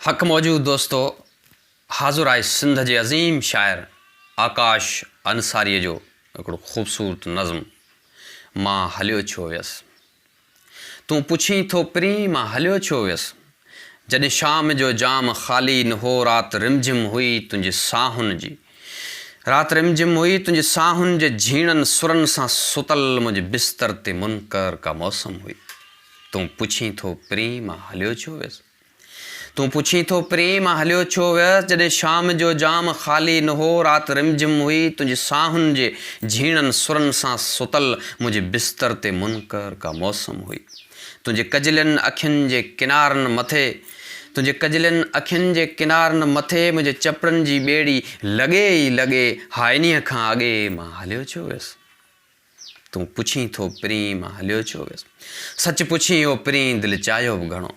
حق موجود دوستو! حاضر آهي سنڌ جي عظيم شاعر آڪاش انصاريء جو هڪڙو خوبصورت نظم مان هليو ڇو ويس؟ تون پڇين ٿو پرين مان هليو ڇو ويس؟ جڏهن شام جو جام خالي نه هو رات رمجم هئي تنهنجي ساهن جي رات رم جم هئي، تنهنجي ساهن جي جهيڻن سرن سان ستل منهنجي بستر تي منڪر ڪا موسم هئي. تون پڇين ٿو پرين مان هليو ڇو ويس؟ تون پڇين ٿو پرين مان هليو ڇو ويس؟ جڏهن شام جو جام خالي نه هو، رات رم جم هئي، تنهنجي ساهن جي جهيڻن سرن سان ستل منهنجي بستر تي منڪر ڪا موسم هئي. تنهنجي ڪجلين اکين جي ڪنارن مٿي. تنهنجي ڪجلين اکين جي ڪنارن مٿي منهنجي چپڙن جي ٻيڙي لڳي ئي لڳي ها انهيء کان اڳي مان هليو ڇو ويس؟ تون پڇين ٿو پرين مان هليو ڇو ويس؟ سچ پڇين او پرين دل چاهيو به گهڻو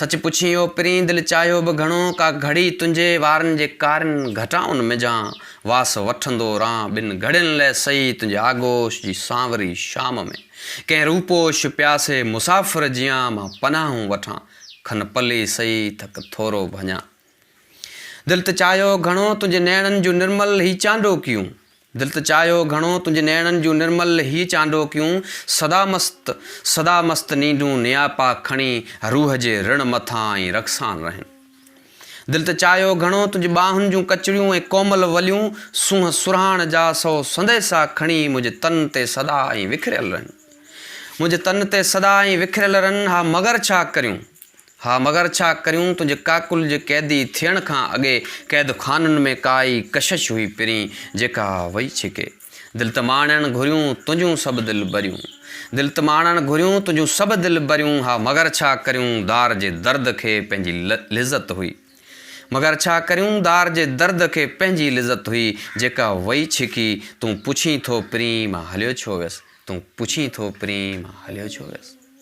سچ پڇين او پرين دل چاهيو به گهڻو ڪا گهڙي تنهنجي وارن جي ڪارين گهٽائن منجهان واس وٺندو رهان ٻن گهڙين لئه سهي تنهنجي آغوش جي سانوري شام ۾ ڪنهن روپوش پياسي مسافر جيان مان پناهون وٺان کن پلي سئي ٿڪ ٿورو ڀڃان. دل ته چاهيو گهڻو تنهنجي نيڻن جون نرمل هي چانڊوڪيون دل ته چاهيو گهڻو تنهنجي نيڻن جون نرمل هي چانڊوڪيون سدا مست سدا مست نينڊون نياپا کڻي روح جي رڻ مٿان ائين رقصان رهن دل ته چاهيو گهڻو تنهنجي ٻانهن جون ڪچڙيون ۽ ڪومل وليون سونهن سرهاڻ جا سو سنديسا کڻي منهنجي تن تي سدا ائين وکريل رهن. منهنجي تن تي سدا ائين وکريل رن ها مگر ڇا ڪريون ها مگر ڇا ڪريون تنهنجي ڪاڪل جي قيدي ٿيڻ کان اڳي قيد خانن ۾ ڪا ئي ڪشش هئي پرين جيڪا وئي ڇڪي دل ته ماڻڻ گهريون تنهنجون سڀ دل بريون دل ته ماڻڻ گهريون تنهنجون سڀ دل بريون ها مگر ڇا ڪريون دار جي درد کي پنهنجي لذت هئي. مگر ڇا ڪريون دار جي درد کي پنهنجي لذت هئي جيڪا وئي ڇڪي تون پڇين ٿو پرين مان هليو ڇو ويس تون پڇين ٿو پرين مان هليو ڇو ويس.